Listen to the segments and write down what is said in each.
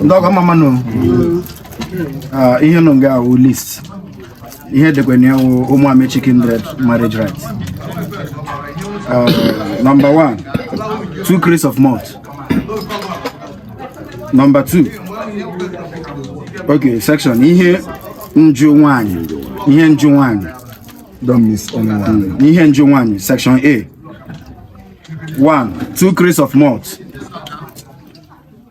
ndị ọgọ mma mma nụ ah, ihe nọ nga a wụ list ihe e dekwa na ya wụ Ụmụamechi kindred marriage rites ah, number one two crates of malt number two okay section ihe njụ nwanyị ihe njụ nwanyị don't miss anyone ihe njụ nwanyị section a one two crates of malt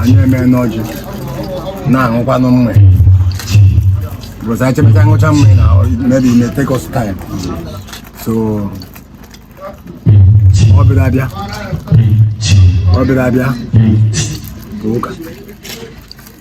anyị emee n'ọjị na-aṅụkwanụ mmanya because anyị chepụta ṅụchaa mmanya maybe may take us time so ọ bịara abịa ọ bịara abịa ụka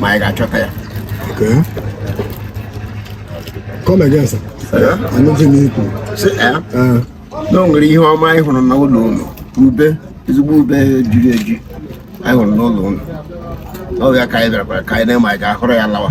ma anyị ga-achọta ya Come again, sir. Anụghị m ikwu. na o nwere ihe ọma anyị hụrụ na ụlọ unu ube ezigbo ube jiri eji anyị hụrụ n'ụlọ unu ọ ya ka anyị bịara ka anyị lee ma anyị ga-aghọrọ ya lawa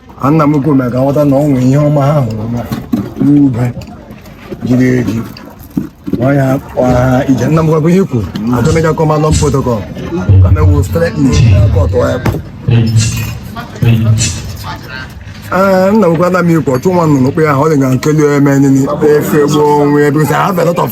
nna m kwuru ka m ghọta na ọ nwere ihe ọma ha hụrụ na ube jiri eji ọnya ọha ije nna m gwakwa ihe kwuru atọmịja kọmalọ protocol ka na ewu straight kọtụ ya ee nna m gwara m ikwu ọchụ nwa nnụnụ kpe ya ọ dị ga nkeli eme nini efe gboo onwe ebe ha velọtọf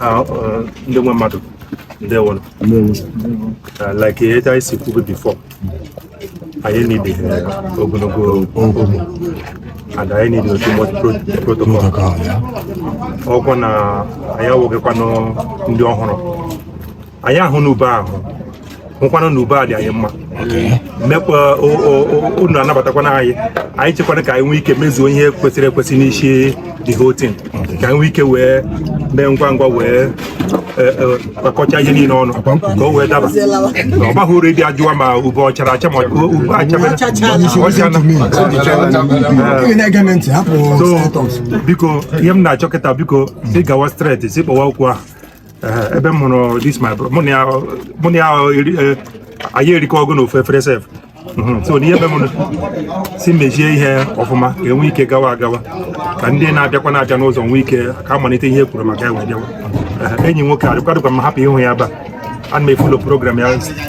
Ah, eh, ndị nwe mmadụ ndewo ah, like etu anyị si kwube before anyị need ogologo oge and anyị need too much protocol ọkwa na anyị awụghịkwanụ ndị ọhụrụ anyị ahụna ube ahụ hụkwana na ube a dị anyị mma mekwa unu anabatakwana anyị anyị chekwana ka anyị nwee ike mezuo ihe kwesịrị ekwesị n'isi the whole thing ka anyị nwee ike wee mee ngwa ngwa wee kpakọcha e, e, ihe niile ọnụ ka o wee daba na ọ baghị uru ịdị ajụwa ma ube ọ chara acha ma ube achabere so biko ihe m na-achọ kịta biko si gawa straight si kpọwa okwu ahụ ebe m hụrụ this my brother mụ na ya mụ na ya eri- eh, anyị erikọgo na ofu efere sef Mhm, so n'ihe ebe m si mezie ihe ọfụma ka e nwee ike gawa agawa ka ndị na-abịakwa na-abịa n'ụzọ nwee ike ka a malite ihe e kwuru maka ya wee bịawa Eh, enyi nwoke a dịkwa dịkwa m happy ịhụ ya ebe a ana m efollow program ya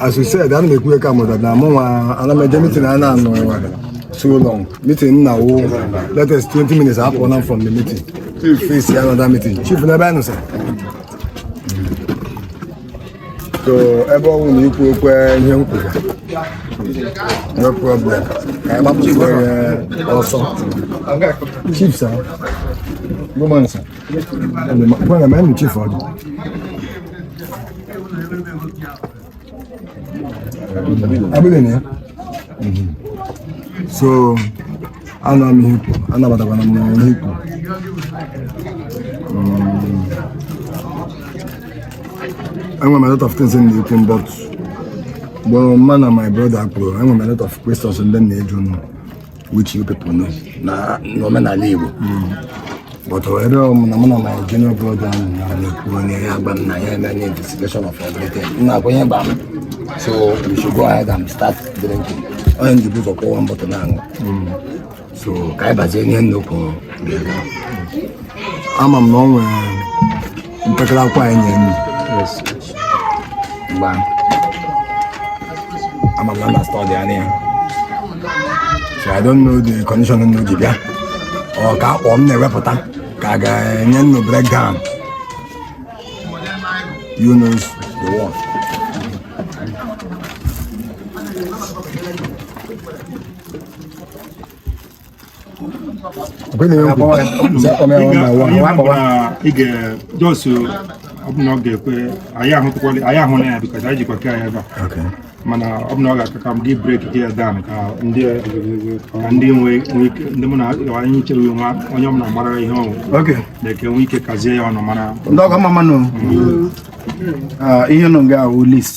as you said ana m ekwu ka mụta na mụ nwa ana m eje meeting a na-anọ so long meeting na-ewe latest 20 minutes apụọ m from the meeting chief face ya another meeting chief n'ebe anyị nọ sir so ebe ọ bụrụ na i kwukwa ihe m kwuru no problem ka anyị gbapụta ọsọ chief sir good morning sir Bwana mimi chief aje. Abile ne? So ana mi hipo, ana bata bana mna hipo. Enwe m a lot of things in the open but ebe mụ na my brother akpụrụ enwe m a lot of questions ndị m na-ajụ unu which you people know na n'omenala Igbo but ebe m na mụ na my junior brother m na na-ekwu onye ya agba m na ya eme nye investigation of everything m na-agwa ihe gba m so we should go ahead and start drinking onye njibu ụzọ kwụwa one bottle na-aṅụ so ka anyị bazie ihe nnukwu ga-aga ama m na ọ nwere mpekere akwa anyị nyere unu mgbe a ama m na unu study-ana ya so I don't know the condition unu ji bịa ọ ka akpọ m na-ewepụta ka a ga-enye unu breakdown you know the one Kwenu yo. Za kwa mwa mwa wa. Wa kwa wa. Ige Josu ọ bụ na ọ ga-ekwe anyị ahụtụkwala anyị ahụ na ya bikọta anyị jikwa ke ya ebe a mana ọ bụ na ọ ga-aka ka m ga-ebreaki ya down ka ndị ka ndị nwe ike ndị mụ na anyị chere nwa onye ọbụla mara ihe ọnwụ na-eke nwe ike kazie ya ọnụ mara ndị ọgọ mma mma nụ ihe nọ nga ahụ list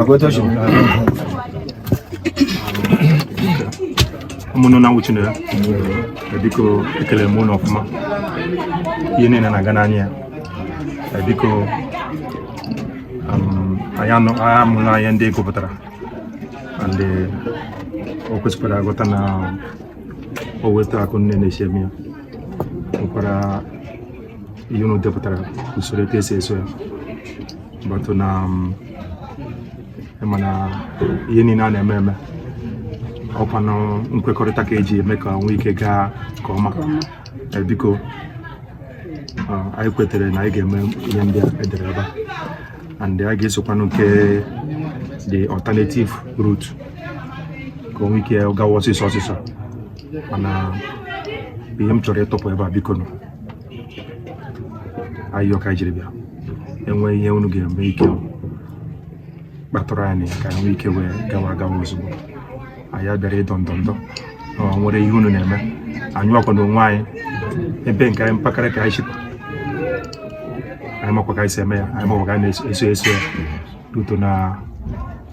akwai tashi ụmụnụ na nwuchi na ya biko ekele m unu ọfụma ihe niile na-aga n'anya ya eh, biko um, anyị anụla ihe ndị a gụpụtara and eh, o kwesịkwara aghọta na ọ wụ etu a ka unu na-esi eme ya nwekwara ihe unu depụtara usoro etu esi eso ya but na um, ị ma na ihe niile a na-eme eme ọkwanụ nkwekọrịta ka e ji eme ka o nwee ike gaa nke ọma Eh, biko ah, anyị kwetere na anyị ga-eme ihe ndị a e dere ebe a and anyị ga-esokwanụ nke the alternative route ka o nwee ike gawa ọsịsọ ọsịsọ mana ihe m chọrọ ịtụpụ ebe a biko nụ ayịyọ ka e jiri bịa e nwee ihe unu ga-enwe ike kpatụrụ anyị ka anyị nwee ike wee gawa gawa ozugbo anyị abịara ịdọ ndọndọ o nwere ihe unu na-eme anyị ọkwa na onwe anyị ebe nke anyị mpakarị ka anyị chịkwa anyị makwa ka anyị si eme ya anyị makwa ka anyị na-eso eso ya ruto na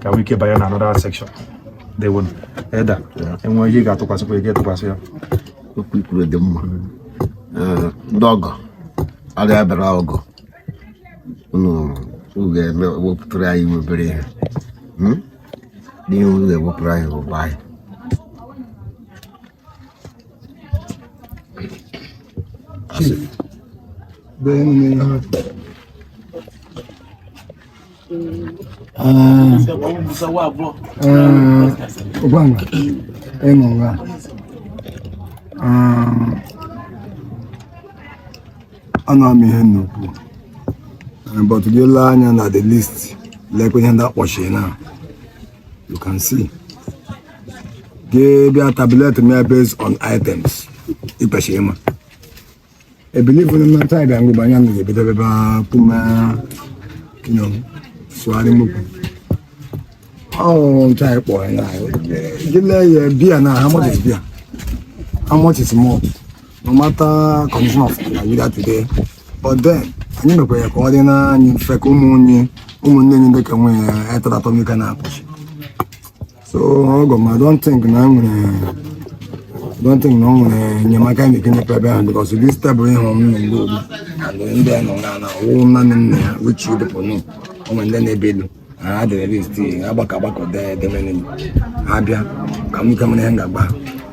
ka nwee ike banye na another section dewonu eda enwe ihe ga-atụkwasịkwa ego a tụkwasị ya okwu i kwuru dị mma ndị ọgọ anyị bịara ọgọ unu ga-eme wepụtara anyị nwa obere ihe n'ihe unu ga-ewepụrụ anyị ụba anyị Ogwanga engonga ana m ihe nnukwu eh, but gị lee anya na the list like ihe ndị a kpọchiri now you can see gị bịa tablet mee based on items ịkpachi ịma I believe na mmata ịbịa mgbe anya na ebido ebe puma sụgharị mokwu ọhụrụ nta ịkpọ ya gị lee ya beer now how much is beer how much is malt no matter condition of Nigeria today but then anyị mekwa ya ka ọ dịrị anyị mfe ka ụmụnne ụmụnne anyị ndị ka nwee ya etara atọmika na-apụchi so ọgọ m don't think na nwere don't think na o nwere enyemaka na ekene pebe ahụ because this table ịhụ m na mgbe ogbu and ndị a nọ na na wụ nanị nna ya which you dịpụ nụ o nwere ndị na-ebe elu ha adịrị list agbakọ agbakọ dee edemene abịa ka m ike mara ihe m ga-agba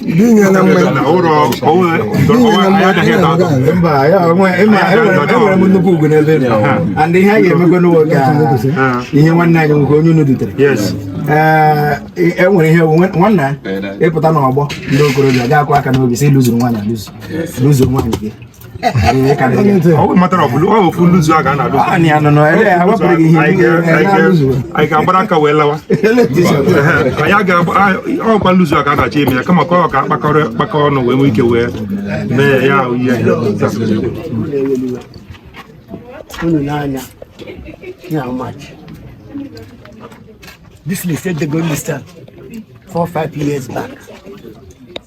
Dinye na mgbe na ụlọ onwe enwere m nnukwu ugwu n'ebe unu nọ and ihe a ga-emekwa n'ụwa ka ihe nwanne anyị nwoke onye unu dutere enwere ihe wụ na ị pụta n'ọgbọ ndị okorobịa ga-akụ aka n'obi sị lụzuru nwaanyị alụzu lụzuru nwaanyị gị anyị ga-agbara aka wee lawa ọkwa nluzu a ka a na-achọ ime ya kama ka ọ ka akpakọrọ kpakọ ọnụ wee nwee ike wee mee ya ihe unu n'anya ya how much this list e dego list a 4 5 years back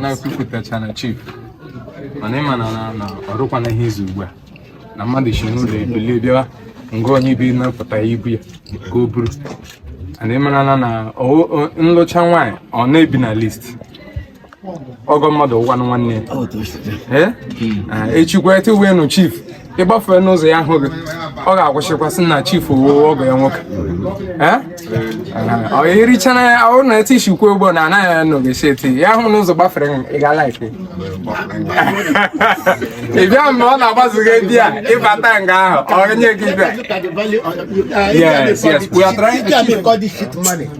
na-ekwupụtacha na chief mana ị ma na na ọrụkwana ihe izu ugbu a na mmadụ si n'ụlọ ebilie bịawa nga onye bi na-apụta ibu ya ka o buru and ị marala na nlụcha nwaanyị ọ na-ebi na list ọgọ mmadụ wụkwanụ nwanne echikwa ete uwe nụ chief ị gbafee n'ụzọ ya ahụ gị ọ ga-akwụsịkwa sị na chief ọ wụ ọgọ ya nwoke ọ erichana ya ọ na eti isikwu ugbo na anaghị ya n'ogesi eti ya hụ n'ụzọ gbafere ị ga-alike ịbịa mgbe ọ na-agbazighị di ya ị bata nga ahụ ọ nye gị bịa yes yes we are trying to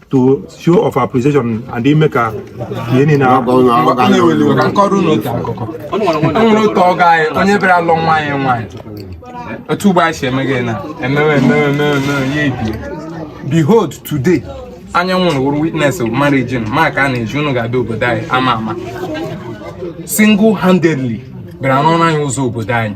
to show of appreciation and ime ka ihe niile m kọọrọ unu otu akụkọ e nwere otu ọgọ anyị onye bịara alụ nwa anyị nwaanyị otu ugbo anyị si eme gị na emewe emewe emewe emewe ya ebie behold today anyị ewere wụrụ witness of marriage maka a na-eji unu ga-abịa obodo anyị ama ama single handedly bịara rụọnụ anyị ụzọ obodo anyị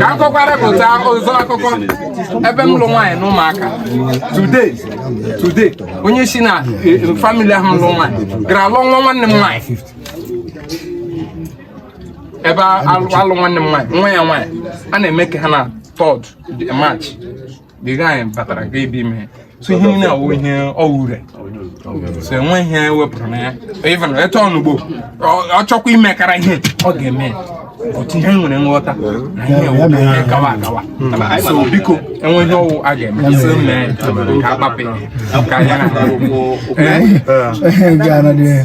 ka a kọkwara pụta ụzọ akụkọ ebe m lụ nwaanyị na ụmụaka today today onye si na e, e, family ahụ lụ nwaanyị gara lụọ nwa nwanne m nwaanyị ebe a lụ nwanne m nwaanyị nwa ya nwaanyị a na-eme ka ha na third march the guy batara ga ebe ime so ihe niile awụ ihe ọ wụrụ so enwe ihe e wepụrụ na ya even etu ọ nọ ugbo ọ chọkwa imekara ihe ọ ga-eme otu ihe nwere nghọta na ihe a wụ na ihe gawa agawa so biko enwe ihe ọ wụ a ga-eme e si mee ka akpapụ ka ya na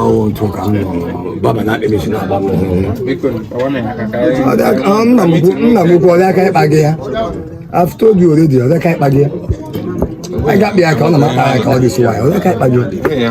ọnwụ ntụ ka m nọ baba na akpịrịsị na agba m nna m ukwu ọ rị ka ịkpa gị ya I've told you already ọ rị ka ịkpa gị ya anyị ga-akpa ya ka ọ na m akpa ya ka ọ dị sị ya ọ rị ka ịkpa gị ya